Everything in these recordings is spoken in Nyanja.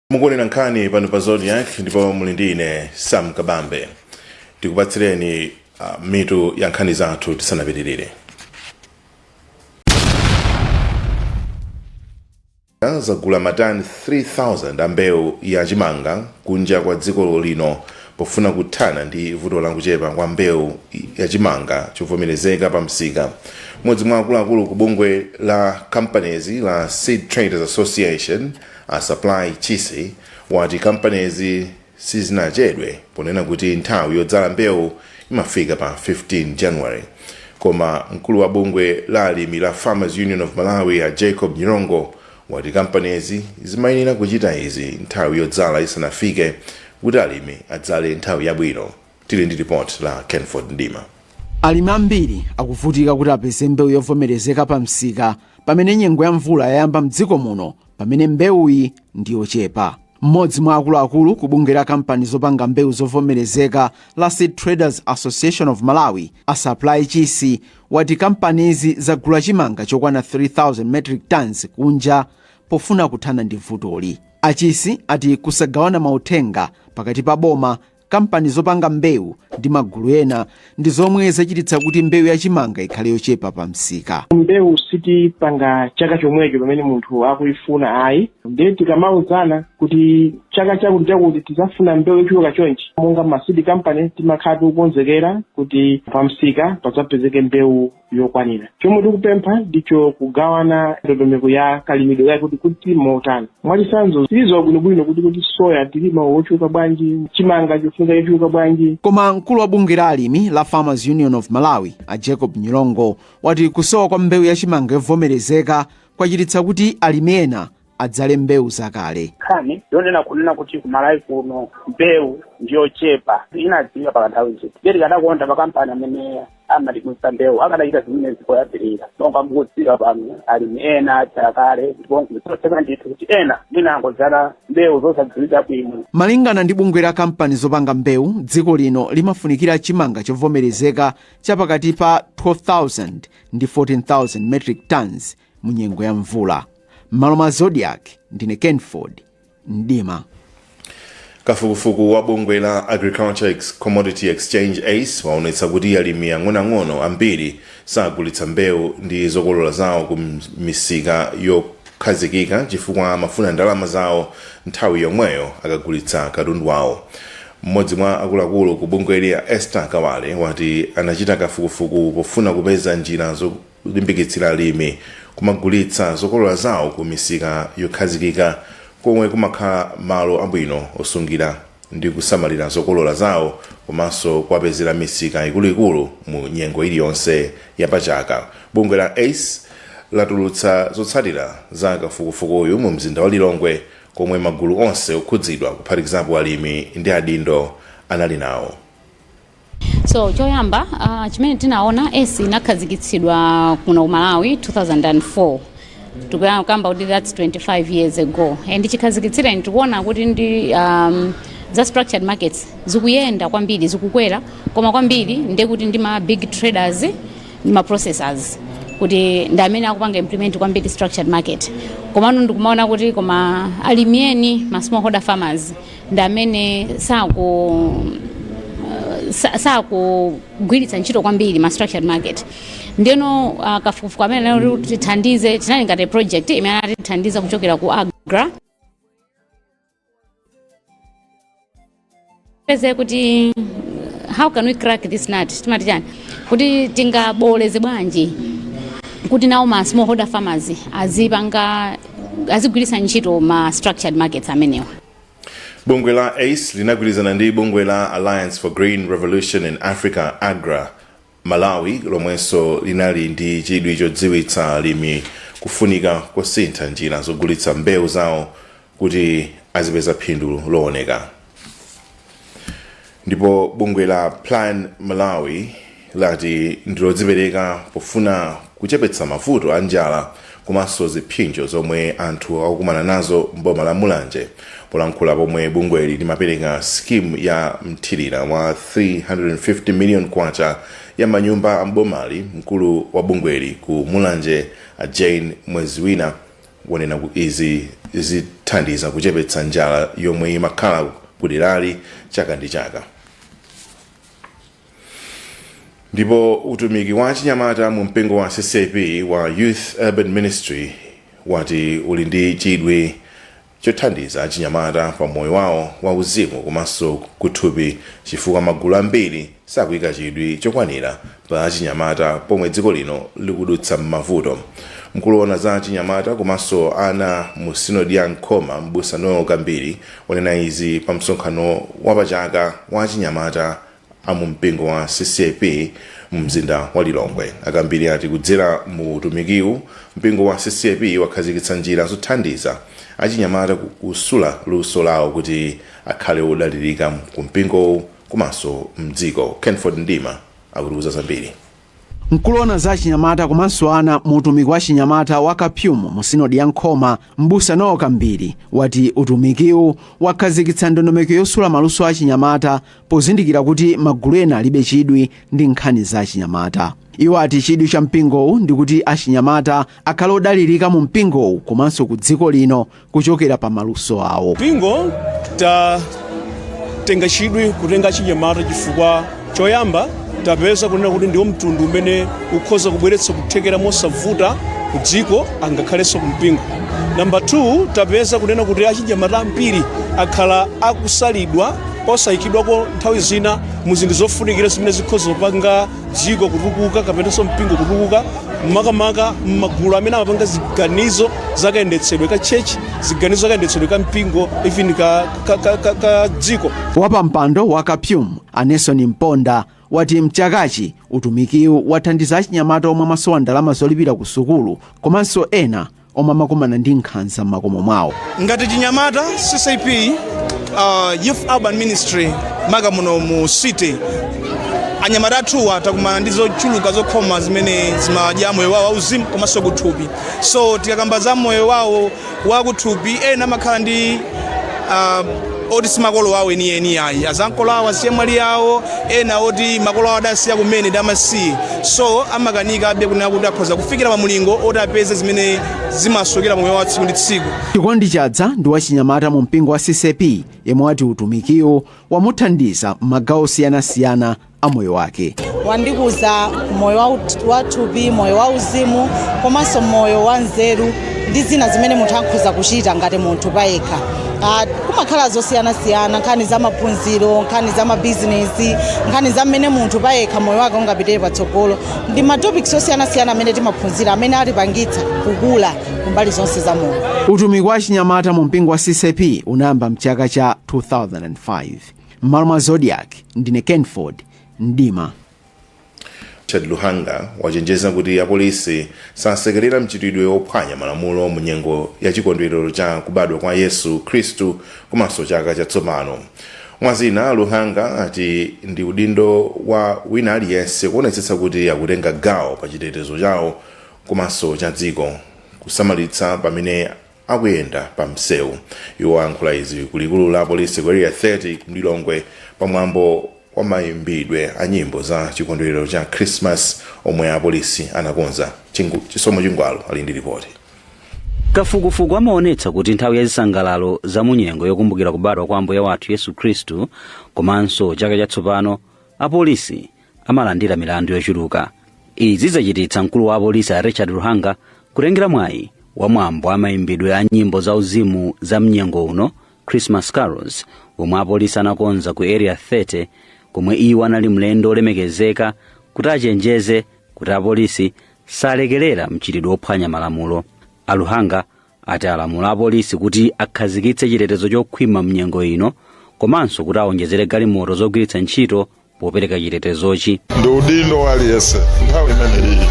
mukuonera nkhani pano pa Zodiak ndipo muli ndi ine sam kabambe tikupatsireni uh, mitu ya nkhani zathu tisanapitirire zagula matani 3000 a mbewu ya chimanga kunja kwa dziko lino pofuna kuthana ndi vuto la kuchepa kwa mbewu ya chimanga chovomerezeka pa msika mmodzi mwa akuluakulu ku bungwe la companies la seed traders association A Supply Chisi wati kampanizi sizinachedwe ponena kuti nthawi yodzala mbewu imafika pa 15 January koma mkulu wa bungwe la alimi la Farmers Union of Malawi a Jacob Nyirongo wati kampanizi zimayenera kuchita izi nthawi yodzala isanafike kuti alimi adzale nthawi yabwino. Tili ndi report la Kenford Mdima. Alimi ambiri akuvutika kuti apeze mbewu yovomerezeka pamsika pamene nyengo ya mvula yayamba m'dziko muno pamene mbewuyi ndi yochepa. Mmodzi mwa akuluakulu ku bungwe la kampani zopanga mbewu zovomerezeka la Seed Traders Association of Malawi, a Supply Chisi, wati kampanizi zagula chimanga chokwana 3,000 metric tons kunja pofuna kuthana ndi vutoli. Achisi ati kusagawana mauthenga pakati pa boma Kampani zopanga mbewu ndi magulu ena ndi zomwe zachititsa kuti mbewu ya chimanga ikhale yochepa pa msika. Mbewu sitipanga chaka chomwecho pamene munthu akuyifuna ayi ndiye tikamauzana kuti chaka chakuti chakuti tidzafuna mbewu yochuluka chonchi, monga ma seed company timakhala tikukonzekera kuti pa msika padzapezeke mbewu yokwanira chomwe tikupempha ndicho kugawana ndondomeko ya kalimidwe kake kuti kuli motani mwachitsanzo tizidziwa bwinobwino kuti kuti soya tilima wochuluka bwanji chimanga chofunika chochuluka bwanji koma mkulu wa bungwe la alimi la farmers union of malawi a jacob Nyirongo wati kusowa kwa mbewu ya chimanga yovomerezeka kwachititsa kuti alimi ena adzale mbewu zakale. nkhani yonena kunena kuti kumalawi kuno mbewu ndiyochepa inadziwika pakanthawi ndithu ndiye tikadakonda makampani amene amatigulitsa mbewu akadachita zimenezi poyambirira monga mukudziwa pano alimi ena adzala kale ndipo n'zotheka ndithu kuti ena mwina angodzala mbewu zosadziwika bwino Malingana ndi bungwe la kampani zopanga mbewu, dziko lino limafunikira chimanga chovomerezeka cha pakati pa 12,000 ndi 14,000 metric tons mu nyengo ya mvula m'malo mwa Zodiak ndine kenford mdima kafukufuku wa bungwe la agriculture commodity exchange ace waonetsa kuti alimi ang'onoang'ono ambiri sagulitsa mbewu ndi zokolola zawo ku misika yokhazikika chifukwa amafuna ndalama zawo nthawi yomweyo akagulitsa katundu wawo mmodzi mwa akuluakulu ku bungweli a esther kawale wati anachita kafukufuku pofuna kupeza njira zo- zolimbikitsira alimi kumagulitsa zokolola zawo ku misika yokhazikika komwe kumakhala malo abwino osungira ndi kusamalira zokolola zawo komanso kuwapezera misika ikuluikulu mu nyengo iliyonse ya pa chaka. Bungwe la ace latulutsa zotsatira za kafukufukuyu mu mzinda wa Lilongwe komwe magulu onse okhudzidwa kuphatikizapo alimi ndi adindo anali nawo. So choyamba uh, chimene tinaona ACE inakhazikitsidwa kuno ku Malawi 2004 tikukamba kuti that's 25 years ago and chikhazikitsireni tikuona kuti ndi um, za structured markets zikuyenda kwambiri zikukwera koma kwambiri ndiye kuti ndi ma big traders ndi ma processors kuti ndi amene akupanga implement kwambiri structured market komano ndikumaona kuti koma alimi eni ma smallholder farmers ndi amene saku sa- sakugwiritsa ntchito kwambiri ma structured market ndeno uh, kafukufuku amene anatithandiza tinali ngati project imene anatithandiza kuchokera ku agra kupeza kuti how can we crack this nut timati chani kuti tingabooleze bwanji kuti nawo ma smallholder farmers azipanga azigwiritsa ntchito ma structured markets amenewa bungwe la ace linagwirizana ndi bungwe la alliance for green revolution in africa agra malawi lomwenso linali ndi chidwi chodziwitsa alimi kufunika kosintha njira zogulitsa mbewu zawo kuti azipeza phindu looneka ndipo bungwe la plan malawi lati ndilodzipereka pofuna kuchepetsa mavuto a njala komanso ziphinjo zomwe anthu akukumana nazo mboma la mulanje polankhula pomwe bungweli limapereka skimu ya mthirira wa 350 million kwacha ya manyumba a mbomali mkulu wa bungweli ku mulanje a jane mweziwina wanena kuti izi zithandiza kuchepetsa njala yomwe imakhala kuderali chaka ndi chaka ndipo utumiki wa achinyamata mu mpingo wa ccap wa youth urban ministry wati uli ndi chidwi chothandiza achinyamata pa moyo wawo wa uzimu komanso kuthupi chifukwa magulu ambiri sakuika chidwi chokwanira pa achinyamata pomwe dziko lino likudutsa m'mavuto. Mkulu woona za achinyamata komanso ana mu sinodi ya Nkhoma, m'busa Noel Kambiri, wanena izi pa msonkhano wa pa chaka wa achinyamata a mu mpingo wa CCAP mu mzinda wa Lilongwe. A Kambiri ati kudzera mu utumikiwu, mpingo wa CCAP wakhazikitsa njira zothandiza achinyamata kusula luso lawo kuti akhale odalirika ku mpingowu. komanso mdziko. Kenford Mdima akutiuza zambiri. Mkulu owona za achinyamata komanso ana mu utumiki wa chinyamata wa CAPYUM mu sinodi ya Nkhoma, m'busa Noel Kambiri wati utumikiwu wakhazikitsa ndondomeko yosula maluso a achinyamata pozindikira kuti magulu ena alibe chidwi ndi nkhani za achinyamata. Iwo ati chidwi cha mpingowu ndikuti achinyamata akhale odalirika mu mpingowu komanso ku dziko lino kuchokera pa maluso awo. Mpingo tatenga chidwi kutenga achinyamata chifukwa choyamba tapeza kunena kuti ndiwo mtundu umene ukhoza kubweretsa kuthekera mosavuta ku dziko angakhalenso ku mpingo. Namba 2 tapeza kunena kuti achinyamata ambiri akhala akusalidwa osayikidwako nthawi zina mu zinthu zofunikira zimene zikhoza kupanga dziko kutukuka kapenanso mpingo kutukuka makamaka m'magulu amene amapanga ziganizo zakayendetsedwe ka church ziganizo zakayendetsedwe ka mpingo even ka, ka, ka, ka, ka dziko wapampando wa CAPYUM a Nelson mponda wati mchakachi utumikiwu wathandiza achinyamata omwe amasowa ndalama zolipira ku sukulu komanso ena omwe amakumana ndi nkhanza m'makomo mwawo. Ngati chinyamata, CCAP, uh, Youth Urban Ministry, maka muno mu city, anyamata athuwa akukumana ndi zochuluka zokhoma zimene zimadya moyo wawo wauzimu komanso kuthupi. So tikakamba za moyo wawo wakuthupi, ena amakhala ndi uh, oti si makolo awo enieni ayi azankolo awo azichemwali awo ena oti makolo awo adasiya kumene ndi amasiye so amakanikabe kunena kuti akhoza kufikira pa mulingo oti apeze zimene zimasowekera mmoyo wa tsiku ndi tsiku Chikondi Chadza ndi wachinyamata mu mpingo wa ccap yemwe wati utumikiwo wamuthandiza m'magawo osiyanasiyana a moyo wake wandikuza moyo wa ut- wa thupi moyo wa uzimu komanso moyo wa nzeru ndi zina zimene munthu akhoza kuchita ngati munthu payekha Ah, kumakhala zosiyanasiyana nkhani za maphunziro nkhani za mabizinesi nkhani za mmene munthu payekha moyo wake ungapitire patsogolo ndi matopics osiyanasiyana amene timaphunzira amene atipangitsa kukula kumbali zonse za moyo utumiki wa achinyamata mu mpingo wa ccap unayamba mchaka cha 2005 M'malo mwa Zodiak, ndine Kenford Mdima. Richard Luhanga wachenjeza kuti apolisi sasekerera mchitidwe wophwanya malamulo mu nyengo ya chikondwerero cha kubadwa kwa Yesu Khristu komanso chaka chatsopano. Mwazina Luhanga ati ndi udindo wa wina aliyense kuonetsetsa kuti akutenga gawo pa chitetezo chawo komanso cha dziko, kusamalitsa pamene akuyenda pa msewu iwo ayankhula izi ku likulu la polisi ku area 30 ku lilongwe pa mwambo wa mayimbidwe a nyimbo za chikondwerero cha christmas omwe apolisi anakonza chisomo chingwalo ali ndi ripoti kafukufuku amaonetsa kuti nthawi ya zisangalalo za munyengo yokumbukira kubadwa kwa ambuye wathu yesu khristu komanso chaka chatsopano apolisi amalandira milandu yochuluka izi zachititsa mkulu wa apolisi a richard luhanga kutengera mwayi wa mwambo wa mayimbidwe a nyimbo za uzimu za mnyengo uno christmas carols womwe apolisi anakonza ku area 30 komwe iwo anali mlendo olemekezeka kuti achenjeze kuti apolisi salekerera mchitidwe wophwanya malamulo a luhanga ati alamula apolisi kuti akhazikitse chitetezo chokhwima mnyengo ino komanso kuti awonjezere galimoto zogwiritsa ntchito popereka chitetezochi ndi udindo wa aliyense nthawi imeneyi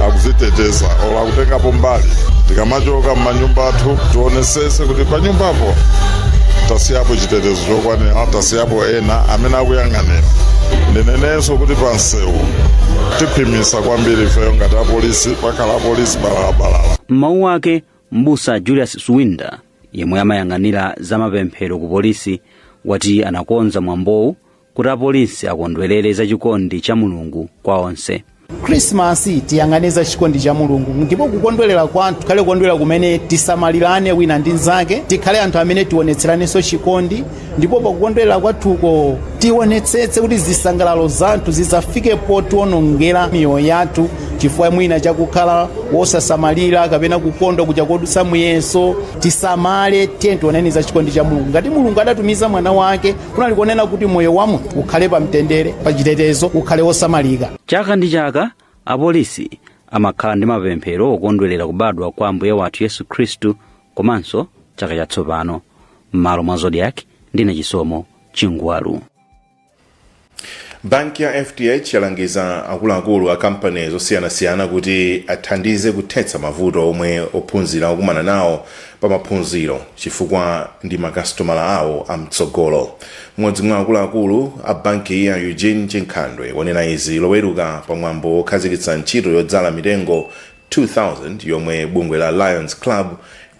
akuziteteza olo akutengapo mbali tikamachoka m'manyumba athu tionesese kuti pa nyumbapo tasiyapo chitetezo chokwanira tasiyapo ena amene akuyang'anira ndinenenso kuti pa msewu tikhwimisa kwambiri ifeyo ngati apolisi pakhala apolisi balalabalala m'mawu ake mbusa julius swinda yemwe amayang'anira za mapemphero ku polisi wati anakonza mwambowu kuti apolisi akondwerere za chikondi cha mulungu kwa onse khrisimasi tiyang'ane za chikondi cha mulungu ndipo kukondwerera kwathu kukhale kukondwerera kumene tisamalirane wina ndi nzake tikhale anthu amene tionetseranenso chikondi ndipo pakukondwerera kwathuko tionetsetse kuti zisangalalo zathu zisafike potionongera miyoyo yathu chifukwa mwina chakukhala wosasamalira kapena kukondwa kuja kodutsa muyeso tisamale tiye tioneni za chikondi cha mulungu ngati mulungu adatumiza mwana wake kunali kuonena kuti moyo wa munthu ukhale pa mtendere pa chitetezo ukhale wosamalika chaka ndi chaka apolisi amakhala ndi mapemphero okondwerera kubadwa kwa ambuye wathu yesu khristu komanso chaka chatsopano m'malo mwa zodiak ndine chisomo chingwalo banki ya fdh yalangiza akuluakulu a kampani zosiyanasiyana kuti athandize kuthetsa mavuto omwe ophunzira akukumana nawo pa maphunziro chifukwa ndi makasitomala awo amtsogolo mmodzi mwa akuluakulu a bankiyi a eugene chinkhandwe wanena izi loweruka pa mwambo wokhazikitsa ntchito yodzala mitengo 2000 yomwe bungwe la Lions Club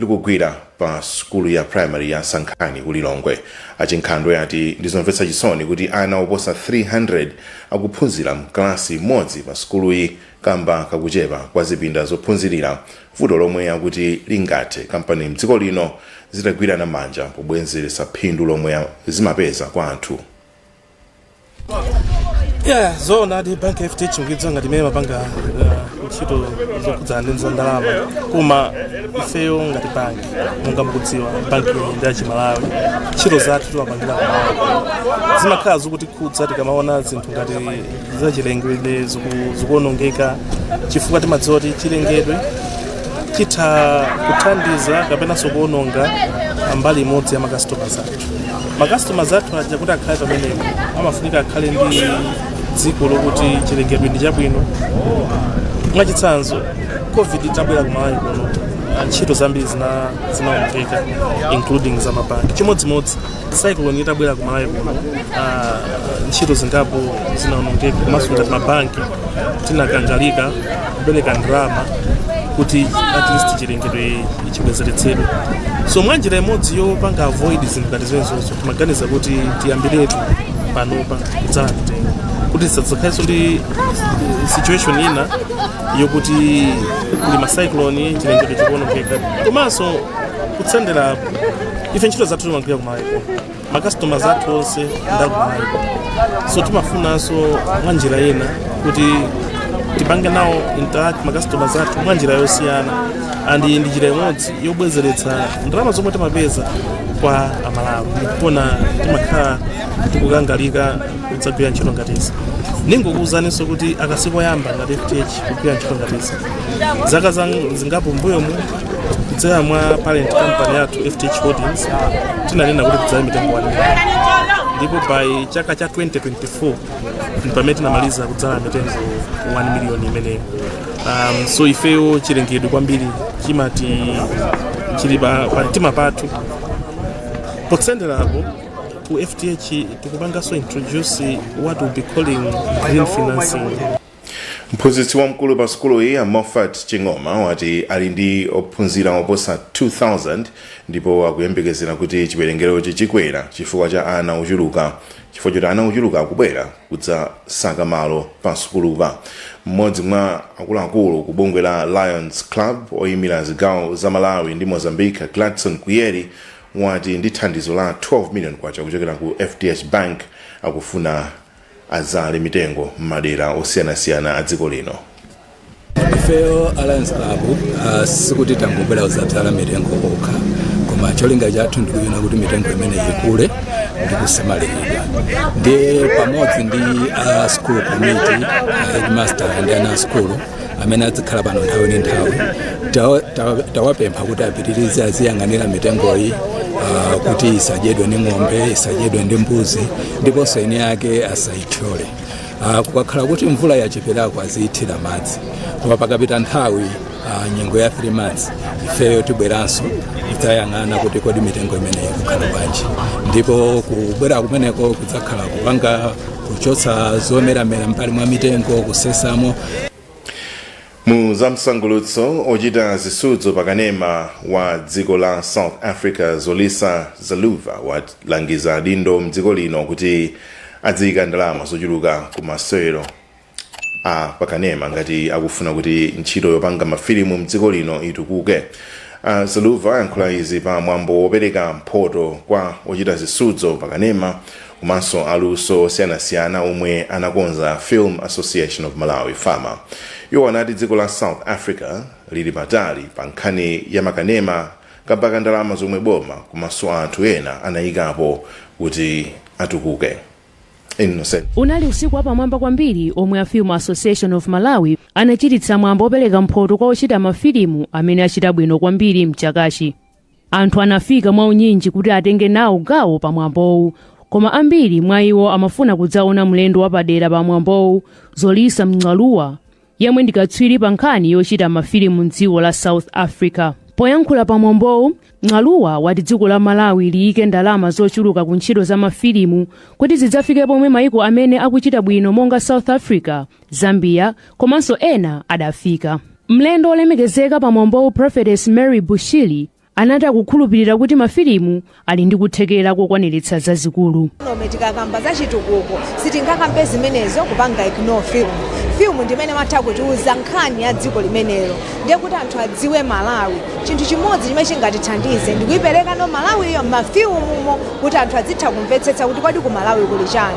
likugwira pa sukulu ya primary ya Sankhani ku Lilongwe. A Chinkhandwe ati ndizomvetsa chisoni kuti ana oposa 300 akuphunzira mkalasi imodzi pa sukuluyi kamba kakuchepa kwa zipinda zophunzirira, vuto lomwe akuti lingathe kampani mdziko lino zitagwirana manja pobwezeretsa phindu lomwe zimapeza kwa anthu. yeah zoonadi banki ya FDH imadziwika ngati imene imapanga uh, ntchito zokhudzana ndi za ndalama koma ifeyo ngati bank monga mukudziwa bank iyi ndi yachimalawi ntchito zathu timapangira kumalawi zimakhala zokutikhudza tikamaona zinthu ngati zachilengedwe ziku- zikuonongeka chifukwa timadziwa kuti chilengedwe chitha kuthandiza kapenanso kuononga mbali imodzi ya makasitomala athu macustomers athu aja kuti akhale pamenepo amafunika akhale ndi dziko lokuti chilengedwe ndi chabwino mwachitsanzo covid itabwera kumalawi kuno ah, ntchito zambiri zina- zinaonongeka including za mabanki chimodzimodzi cyclone itabwera kumalawi kuno ah, ntchito zingapo zinaonongeka komanso ngati mabanki tinakangalika kupereka ndalama kuti at least chilengedwe chibwezeretsedwe so mwa njira imodzi yopanga avoid zinthu ngati zimenezo timaganiza kuti tiyambiretu panopa kudzala mitengo kuti tisadzakhalenso ndi eh, situation ina yokuti kuli macyclone chilengedwe chikuonongeka komanso kutsenderapo ife ntchito zathu timagwira kumalawiko macustomers athu onse ndakumalawi so timafunanso mwa njira ina kuti tipange nawo interact macustomers athu mwa njira yosiyana and ndi njira imodzi yobwezeretsa ndalama zomwe timapeza kwa amalawi ndikuona timakhala tikukangalika kudzagwira ntchito ngati izi ndingokuwuzaninso kuti aka sikoyamba ngati fdh Kugwira ntchito ngati izi. Zaka zang- zingapo mbuyomu kudzera mwa parent company yathu FDH Holdings tinanena kuti tidzale mitengo 1 million ndipo by chaka cha 2024 ndi pamene tinamaliza kudzala mitengo 1 million imeneyo. Um, so ifeyo chilengedwe kwambiri timati chili pa pa mtima pathu potsenderapo ku FDH tikupanganso introduce what we'll be calling green financing mphunzitsi wamkulu pa sukuluyi a moffat ching'oma wati ali ndi ophunzira oposa 2000 ndipo akuyembekezera kuti chiwerengerochi chikwera chifukwa cha ana ochuluka chifukwa choti ana ochuluka akubwera kudzasaka malo pa sukulupa mmodzi mwa akuluakulu ku bungwe la lions club oyimira zigawo za malawi ndi mozambique gladson kuyeri wati ndi thandizo la 12 million kwacha kuchokera ku fdh bank akufuna adzale mitengo m'madera osiyanasiyana a dziko lino. ifeyo a lions club uh, sikuti tangobwera kudzadzala mitengo yokha koma cholinga chathu ndikuona kuti mitengo imene ikule ndikusamaliridwa ndiye pamodzi ndi a school committee uh, headmaster ndi ana a school amene adzikhala pano nthawi ndi nthawi Tawa- tawa- tawapempha kuti apitirize aziyang'anira mitengoyi ah, kuti isadyedwe ndi ng'ombe isadyedwe ndi mbuzi ndiponso eni ake asayithyole Ah, kukakhala kuti mvula yacheperako aziyithira madzi koma pakapita nthawi ah, nyengo ya 3 months ifeyo tibweranso tidzayang'ana kuti kodi mitengo imeneyi ikukhala bwanji ndipo kubwera kumeneko kudzakhala kupanga kuchotsa zomeramera m'mbali mwa mitengo kusesamo mu zamsangulutso ochita zisudzo pakanema wa dziko la south africa zolisa xaluva walangiza adindo mdziko lino kuti adziyika ndalama zochuluka ku masewero a pakanema ngati akufuna kuti ntchito yopanga mafilimu mdziko lino itukuke uh, xaluva ayankhula izi pa mwambo wopereka mphoto kwa ochita zisudzo pakanema komanso aluso osiyanasiyana omwe anakonza Film Association of Malawi, FAMA. Iwo anati dziko la South Africa lili patali pa nkhani ya makanema kamba ka ndalama zomwe boma komanso anthu ena anayikapo kuti atukuke. Innocent. unali usiku wapamwamba kwambiri omwe a film association of malawi anachititsa mwambo wopereka mphoto kwa ochita mafilimu amene achita bwino kwambiri mchakachi Anthu anafika mwaunyinji kuti atenge nawo gawo pa mwambowu, koma ambiri mwa iwo amafuna kudzaona mlendo wapadera pa mwambowu, Zolisa Xaluva, yemwe ndi katswiri pa nkhani yochita mafilimu m'dziko la South Africa. Poyankhula pa mwambowu, Xaluva wati dziko la Malawi liyike ndalama zochuluka ku ntchito za mafilimu kuti zidzafike pomwe maiko amene akuchita bwino monga South Africa zambia komanso ena adafika mlendo wolemekezeka pa mwambowu prophetess mary bushiri anati akukhulupirira kuti mafilimu ali ndi kuthekera kokwaniritsa zazikulu nome tikakamba za chitukuko sitingakambe zimenezo kupanga ignore film film ndi imene imatha kutiuza nkhani ya dziko limenelo ndiye kuti anthu adziwe malawi chinthu chimodzi chimene chingatithandize ndikuipereka no malawiyo m'mafilimumo kuti anthu adzitha kumvetsetsa kuti kodi ku malawi kuli chani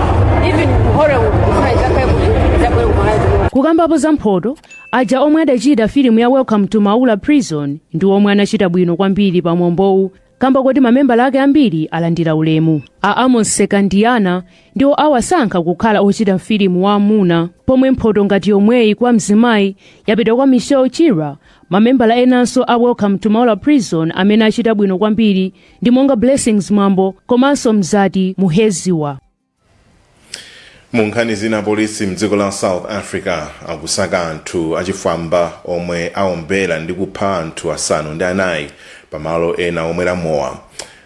kukambapo za mphoto aja omwe adachita filimu ya welcome to maula prison ndi omwe anachita bwino kwambiri pa mwambowu kamba koti mamembala ake ambiri alandira ulemu a amos msekandiana ndiwo awasankha kukhala ochita filimu wa amuna pomwe mphoto ngati yomweyi kwa mzimayi yapita kwa michelle chira mamembala enanso a welcome to maula prison amene achita bwino kwambiri ndi monga Blessings Mwambo komanso Mzati Muheziwa. munkhani zina polisi mdziko la south africa akusaka anthu achifwamba omwe aombera ndi kupha anthu asanu ndi anayi pamalo ena omwera mowa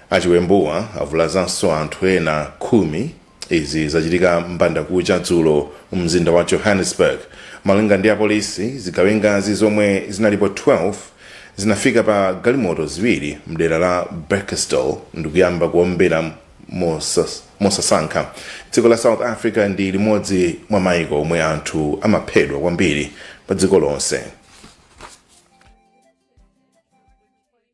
achiwembuwa avulazanso anthu ena khumi Izi zachitika m'bandakucha dzulo mu mzinda wa Johannesburg. Malinga ndi apolisi, zigawengazi zomwe zinalipo 12 zinafika pa galimoto ziwiri mdera la Bekkersdal ndikuyamba kuombera mosasankha. Dziko la South Africa ndi limodzi mwa maiko omwe anthu amaphedwa kwambiri padziko lonse.